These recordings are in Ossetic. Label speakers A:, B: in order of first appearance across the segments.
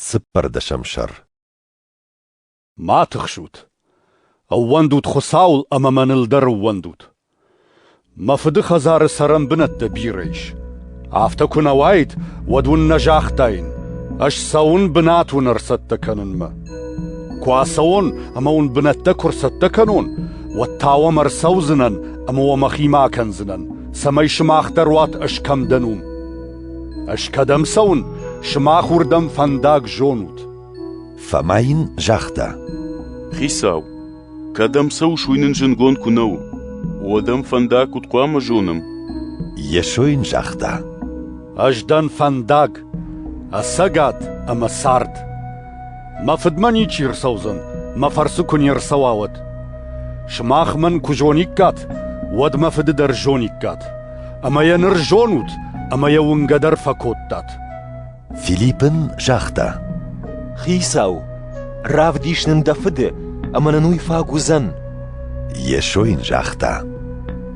A: Цыппӕрдӕсӕм сӕр
B: Ма тыхсут! Ӕууӕндут Хуыцауыл ӕмӕ мӕныл дӕр ӕууӕндут! Мӕ фыды хӕдзары цӕрӕн бынӕттӕ бирӕ ис. Афтӕ куы нӕ уаид, уӕд уын нӕ загътаин, ӕз цӕуын бынат уын ӕрцӕттӕ кӕнынмӕ. Куы ацӕуон ӕмӕ уын бынӕттӕ куы ӕрцӕттӕ кӕнон, уӕд та уӕм ӕрцӕудзынӕн ӕмӕ уӕ мӕхимӕ акӕндзынӕн, цӕмӕй сымах дӕр уат ӕз кӕм дӕн, уым. Ӕз кӕдӕм цӕуын, сымах уырдӕм фӕндаг зонут. Фӕмӕ
A: йын загъта. Хицау,
C: кӕдӕм цӕуыс, уый нын зынгонд куы нӕу, уӕд ӕм фӕндаг куыд хъуамӕ зонӕм? Йесо
A: йын загъта. Ӕз дӕн
B: фӕндаг, ӕцӕгад ӕмӕ цард. Мӕ фыдмӕ ничи ӕрцӕудзӕн, мӕ фӕрцы куы не рцӕуа, уӕд. Сымах мӕн куы зониккат, уӕд мӕ фыды дӕр зониккат. ӕмӕ йӕ ныр зонут ӕмӕ йӕ уынгӕ дӕр фӕкодтат. Филипп
A: ын загъта: Хицау,
D: равдис нын дӕ фыды, ӕмӕ нын уый фаг уыдзӕн. Йесо
A: йын загъта: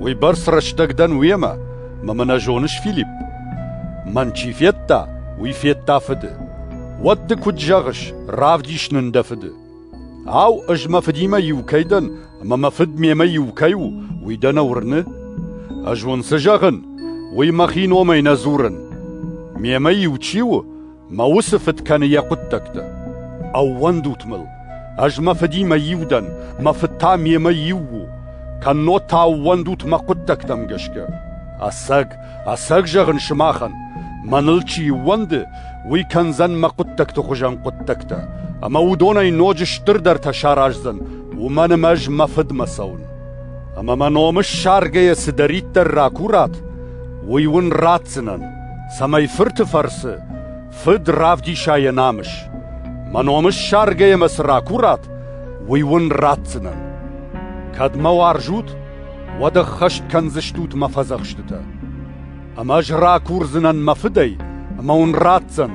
A: Уыйбӕрц
B: рӕстӕг дӕн уемӕ, мӕ мӕ нӕ зоныс, Филипп? Мӕн чи федта, уый федта фыды. Уӕд ды куыд зӕгъыс, равдис нын дӕ фыды? Ау, ӕз мӕ фыдимӕ иу кӕй дӕн, ӕмӕ мӕ фыд мемӕ иу кӕй у, уый дӕ нӕ уырны? Ӕз уын цы зӕгъын, уый мӕхи номӕй нӕ дзурын. Мемӕ иу чи у, мӕ уыцы фыд кӕны йӕ хъуыддӕгтӕ. Ӕууӕндут мыл, ӕз мӕ фыдимӕ иу дӕн, мӕ фыд та мемӕ иу у. Кӕннод та ӕууӕндут мӕ хъуыддӕгтӕм гӕсгӕ. Ӕцӕг Ӕцӕг зӕгъын сымахӕн, мӕныл чи ӕууӕнды, уый кӕндзӕн мӕ хъуыддӕгты хуызӕн хъуыддӕгтӕ, ӕмӕ уыдонӕй ноджы стырдӕртӕ сараздзӕн, уымӕн ӕмӕ ӕз мӕ фыдмӕ цӕуын. Ӕмӕ мӕ ном ссаргӕйӕ цыдӕриддӕр ракурат, уый уын ратдзынӕн, цӕмӕй фырты фӕрцы Фыд равдиса йӕ намыс. Мӕ ном ссаргӕйӕ мӕ цы ракурат, уый уын ратдзынӕн. Кӕд мӕ уарзут, уӕд ӕххӕст кӕндзыстут мӕ фӕдзӕхстытӕ. Ӕмӕ ӕз ракурдзынӕн мӕ фыдӕй, ӕмӕ уын ратдзӕн,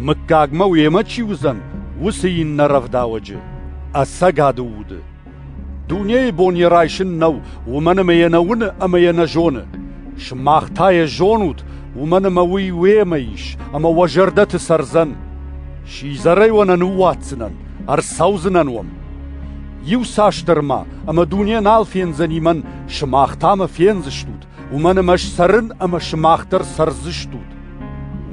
B: мыггагмӕ уемӕ чи уыдзӕн, уыцы иннӕ рӕвдауӕджы, ӕцӕгады уды. Дунейы бон йӕ райсын нӕу, уымӕн ӕмӕ йӕ нӕ уыны ӕмӕ йӕ нӕ зоны. Сымах та йӕ зонут, уымӕн ӕмӕ уый уемӕ ис, ӕмӕ уӕ зӕрдӕты цӕрдзӕн. Сидзӕрӕй уӕ нӕ ныууадздзынӕн, ӕрцӕудзынӕн уӕм. Иуцасдӕр ма ӕмӕ дуне нал фендзӕни мӕн, сымах та мӕ фендзыстут, уымӕн ӕмӕ сцӕрын ӕмӕ сымах дӕр цӕрдзыстут.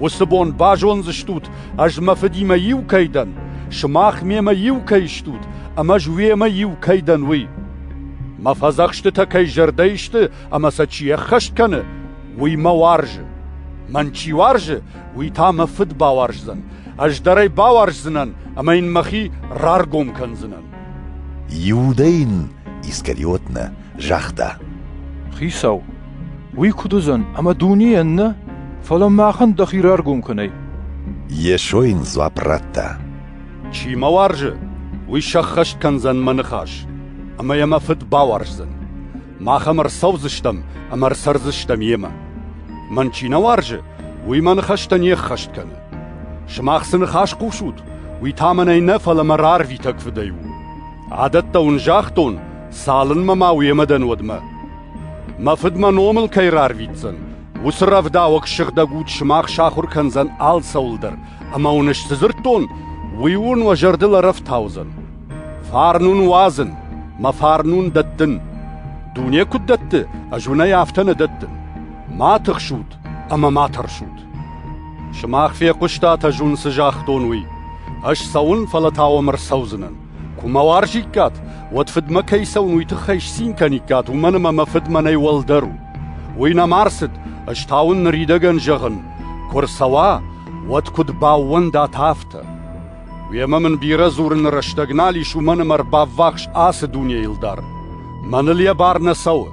B: Уыцы бон базондзыстут, ӕз мӕ фыдимӕ иу кӕй дӕн, сымах мемӕ иу кӕй стут, ӕмӕ ӕз уемӕ иу кӕй дӕн, уый. Мӕ фӕдзӕхстытӕ кӕй зӕрдӕйы сты ӕмӕ сӕ чи ӕххӕст кӕны, уый мӕ уарзы. Мӕн чи уарзы, уый та мӕ фыд бауарздзӕн. Ӕз дӕр ӕй бауарздзынӕн ӕмӕ йын мӕхи раргом кӕндзынӕн. Иудӕ
A: йын Искариотнӕ загъта: Хицау,
E: уый куыд уыдзӕн ӕмӕ дунейӕн нӕ, фӕлӕ махӕн дӕхи раргом кӕнай. Йесо
A: йын дзуапп радта: Чи
B: мӕ уарзы, уый сӕххӕст кӕндзӕн мӕ ныхас, ӕмӕ йӕ мӕ Фыд бауарздзӕн. Мах ӕм ӕрцӕудзыстӕм ӕмӕ ӕрцӕрдзыстӕм йемӕ. Мӕн чи нӕ уарзы, уый мӕ ныхӕстӕ не ӕххӕст кӕны. Сымах цы ныхас хъусут, уый та мӕнӕй нӕ, фӕлӕ мӕ рарвитӕг фыдӕй у. Адӕттӕ уын загътон, цалынмӕ ма уемӕ дӕн, уӕдмӕ. Мӕ фыд мӕ номыл кӕй рарвитдзӕн, уыцы рӕвдауӕг сыгъдӕг уд сымах сахуыр кӕндзӕн алцӕуыл дӕр, Ӕмӕ уын цы дзырдтон, уый уын уӕ зӕрдыл ӕрӕфтаудзӕн. Фарн уын уадзын, мӕ фарн уын дӕттын. Дуне куыд дӕтты, ӕз уынӕй афтӕ нӕ дӕттын. Ма тыхсут ӕмӕ ма тӕрсут. Сымах фехъуыстат ӕз уын цы загътон, уый. Ӕз цӕуын, фӕлӕ та уӕм ӕрцӕудзынӕн. Куы мӕ уарзиккат, уӕд фыдмӕ кӕй цӕуын, уый тыххӕй сцин кӕниккат, уымӕн ӕмӕ мӕ фыд мӕнӕй уӕлдӕр у. Уый нӕма рцыд, ӕз та уын ныридӕгӕн зӕгъын: куы рцӕуа, уӕд куыд баууӕндат, афтӕ. Уемӕ мын бирӕ дзурыны рӕстӕг нал ис, уымӕн ӕмӕ ӕрбаввахс ацы дунейыл дӕр. Мӕныл йӕ бар нӕ цӕуы.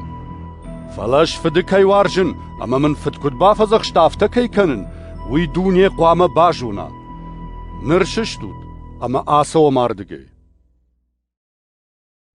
B: Фӕлӕ ӕз фыды кӕй уарзын ӕмӕ мын фыд куыд бафӕдзӕхста, афтӕ кӕй кӕнын, уый дуне хъуамӕ базона. Ныр сыстут ӕмӕ ацӕуӕм ардыгӕй.